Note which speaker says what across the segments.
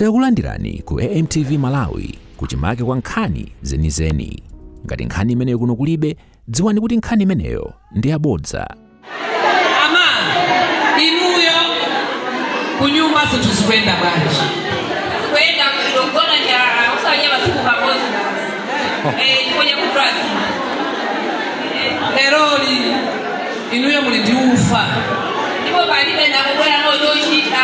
Speaker 1: Takulandirani ku AMTV Malawi kuchimake kwa nkhani zenizeni. Ngati nkhani imeneyo kuno kulibe, dziwani kuti nkhani imeneyo ndi yabodza.
Speaker 2: amayi inuyo kunyumba zinthu zikuyenda bwanji
Speaker 3: kuyenda kugona ndi njala usanye masiku pamozi eh kuja kutrazi
Speaker 2: leroli inuyo muli ndi ufa ndipo
Speaker 3: palibe ndakubwera nochochita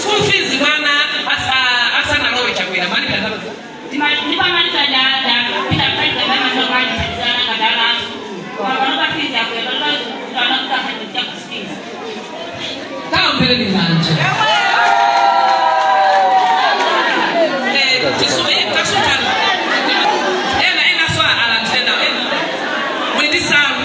Speaker 3: school
Speaker 2: fees mwana asa- asanalowe chakwera mali
Speaker 3: kazako
Speaker 2: kaombeleni manje kasutano ena enaso alantenawo ena mwindisamu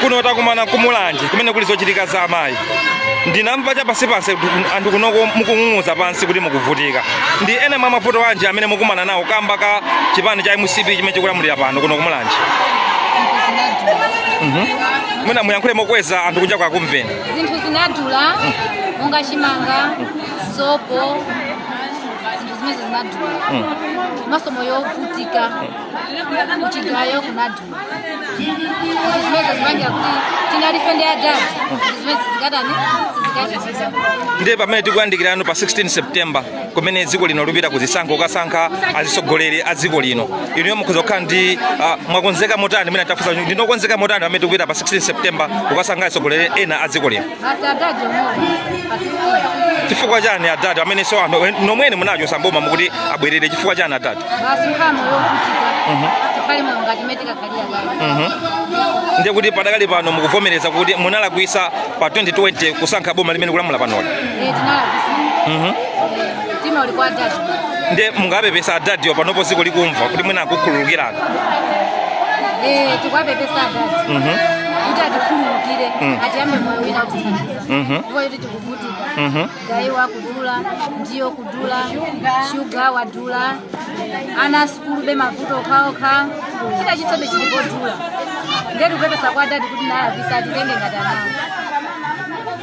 Speaker 4: kuno takumana ku mulanje kumene kuli zochitika za amayi ndinamva chapansipansi kuti anthu kunoko mukung'ung'uza pansi kuti mukuvutika ndi ena mwa mavuto anji amene mukukumana nawo kamba ka chipani cha mcp chimene chikulamulira pano kuno ku mulanje Mhm. mwina muyankhule mokweza anthu kunja kwakumveni zinthu
Speaker 5: zinadula monga chimanga sopo zinthu zimezo zinadula komanso moyo wovutika kuchigayo kunadula zinthu zimezo zimangira kuti tinali ife ndi adadi zinthu zimezi zikatani sizikachitika ndiye pamene
Speaker 4: tikuyandikirano pa 16 september kumene dziko lino likupita kuzisankho kukasankha azitsogoleri a dziko lino inuyo mukhoza kukhala ndi ah, mwakonzeka motani mene tafusa ndinu okonzeka motani pamene tikupita pa 16 september kukasankha atsogoleri ena a dziko
Speaker 5: lino chifukwa chani
Speaker 4: adadi amenenso anthu nomwene munachotsa m'boma mukuti abwerere chifukwa chani adadi basi nkhani
Speaker 5: yovutika tikhale moyo ngati mene tinkakhala ndiye
Speaker 4: kuti padakali pano mukuvomereza kuti munalakwisa pa 2020 kusankha boma limene likulamula panoli Eh, tinalakwisa
Speaker 5: Mhm. mtima uli kwa adadi ndiye mungapepesa
Speaker 4: adadiyo panopo dziko likumva kuti mwina akukhululukirani
Speaker 5: Eh, tikuwapepesa adadi Mhm. kuti atikhululukire tiyambe moyo wina atithandiza Mhm. ndipo yoti tikuvutika Mhm. gayo kudula ndiwo kudula shuga wadula ana sukulu be mavuto okhaokha chita chitsobe chili chodula ndiyetu kupepesa kwa adadi kuti tinalakwitsa atitenge ngati ana
Speaker 4: awo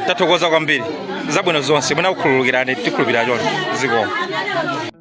Speaker 4: tathokoza kwambiri zabwino zonse mwina akukhululukirani tikhulupirira choncho zikomo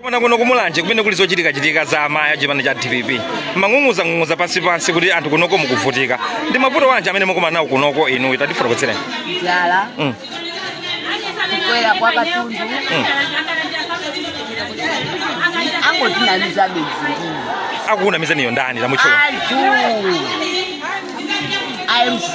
Speaker 4: Komano kuno kumulanje kumene kuli zochitika chitika za amayi achipani cha dpp mumang'ung'uza ng'ung'uza pansi pansi kuti anthu kunoko mukuvutika ndi mavuto wanji amene mukumana nawo kunoko inu tatifotokozereni njala
Speaker 5: Mm. kukwera kwa katundu angotinamiza basi akukunamizaniyo
Speaker 4: ndani tamutchulani
Speaker 5: anthu a mc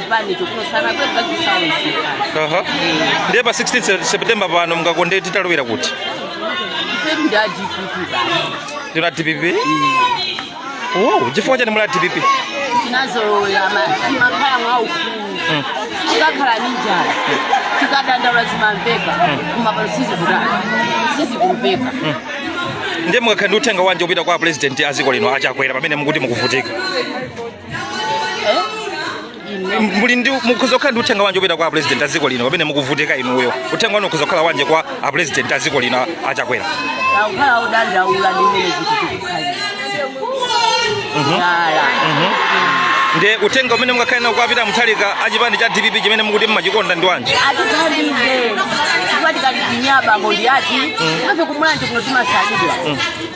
Speaker 5: chipani chokuno
Speaker 4: sanabwerepo chisaoneka Aha. ndiye pa 16 se- september pano mungakonde titalowera kuti ife ndi a dpp basi ndinu a dpp oh, chifukwa chani muli a dpp tinazolowera
Speaker 5: kumakhala mwa ufulu tikakhala ni njala tikadandaula zimamveka koma pano sizikudana sizikumveka ndiye
Speaker 4: mungakhale ndi uthenga wanji opita kwa apresident a dziko lino a chakwera pamene mukuti mukuvutika M- muli ndi mukhoza kukhala ndi uthenga wanji opita kwa apresident a dziko lino pamene mukuvutika inuyo uthenga wanu ukhoza kukhala wanji kwa apresident a dziko lino a- a chakwera tikukhala
Speaker 5: odandaula ndi mmene zinthu
Speaker 4: zikukhalira njala ndiye uthenga umene mungakhale nawo kwa a peter mutharika a chipani cha dpp chimene mukuti mmachikonda ndi wanji atithandize
Speaker 5: chifukwa tikalipinya abambo ndi ati ife kumulanje kuno timasalidwa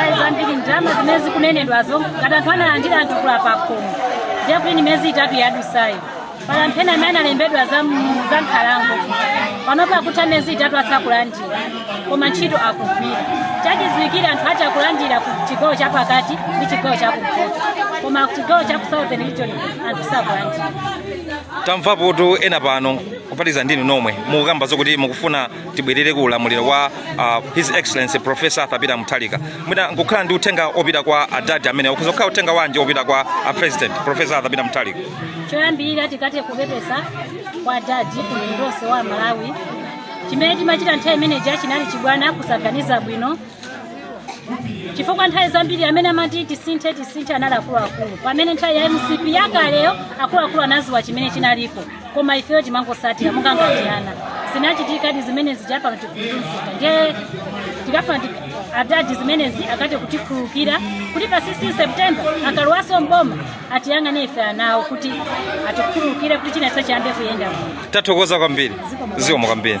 Speaker 4: ayi zambiri
Speaker 6: ndalama zimene zikunenedwazo ngati anthu analandira anthu kuno pakhomo ndiye kuti ni miyezi itatu yadusayo pali anthu ena amene analembedwa za m- za nkhalango panopa akutha miyezi itatu asakulandira koma ntchito akugwira chachidziwikire anthu akulandira ku chigawo cha pakati ndi chigawo cha kumpoto koma ku chigawo cha ku southern region anthu sakulandira
Speaker 4: tamvapotu ena pano kuphatikiza ndi inu nomwe mukukamba zokuti mukufuna tibwerere ku ulamuliro wa uh, his excellency professor arthur peter mutharika mwina mutakhala ndi uthenga opita kwa adadi amene ukhoza kukhala uthenga wanji opita kwa a president professor arthur peter mutharika
Speaker 6: choyambirira tikathe kupepesa kwa adadi kumtundu wonse wa amalawi chimene timachita nthawi imeneja chinali chibwana kusaganiza bwino chifukwa nthawi zambiri amene amati tisinthe tisinthe anali akuluakulu pamene nthawi ya mcp yakaleyo akuluakulu anaziwa chimene chinalipo koma ifeyo timangosatira monga ngati ana zinachitikadi zimenezi zijapa tikuzunzika ndiye tikafuna ti- adadi zimenezi akathe kutikhululukira kuti pa 16 september akalowaso mboma atiyang'ane ife anawo kuti atikhululukire kuti chinachake chiyambe kuyenda bwino tathokoza kwambiri
Speaker 4: zikomo kwambiri